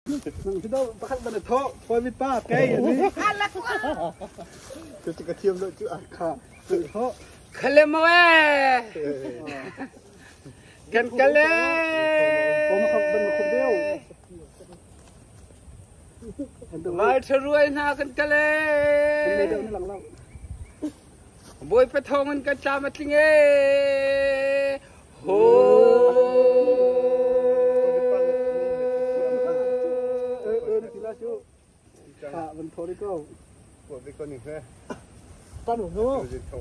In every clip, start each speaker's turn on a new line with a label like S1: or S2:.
S1: pakhat man a thawh khuami pa kei ani cu ka thiam lo cu ah kha
S2: khalemawe kan kale vai tharuai hna kan kale
S1: boy pathong
S2: in kan tlam atling e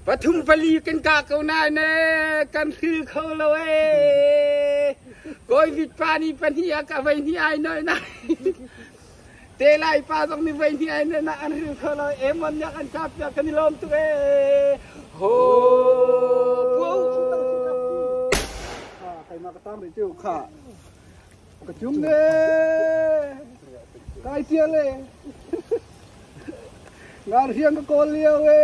S1: Pathum pali kan ka ko nai ne kan thil kho
S2: lo e. Koi vit pa ni pani a ka vai ni ai noi nai. Te Lai pa zong mi voihnih ai nen ah an hil kho lo. Emon nih an kap piak kan i lawm tuk e. Ho puau cu tang
S1: si kap ki. Ha kaima ka tam rih tu kha. Ka cum ne. Kai tial e. Ngar hiang ka kawl liao e.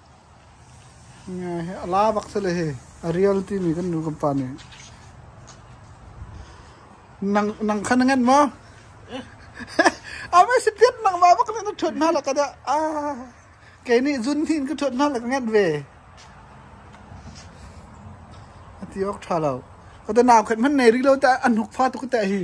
S1: A la bak si le hi a rial timi kan nu kan pa nih nang kha na ngenh maw? A mei si piat nangmah bak nih na ṭhuat hna lak ah dah a kei nih zun hin ka ṭhuat hna lak ka ngenh ve a ti awk ṭha lo. Ka te naukhat hmanh nei rih lo tah an hnukfa tuk tah hi.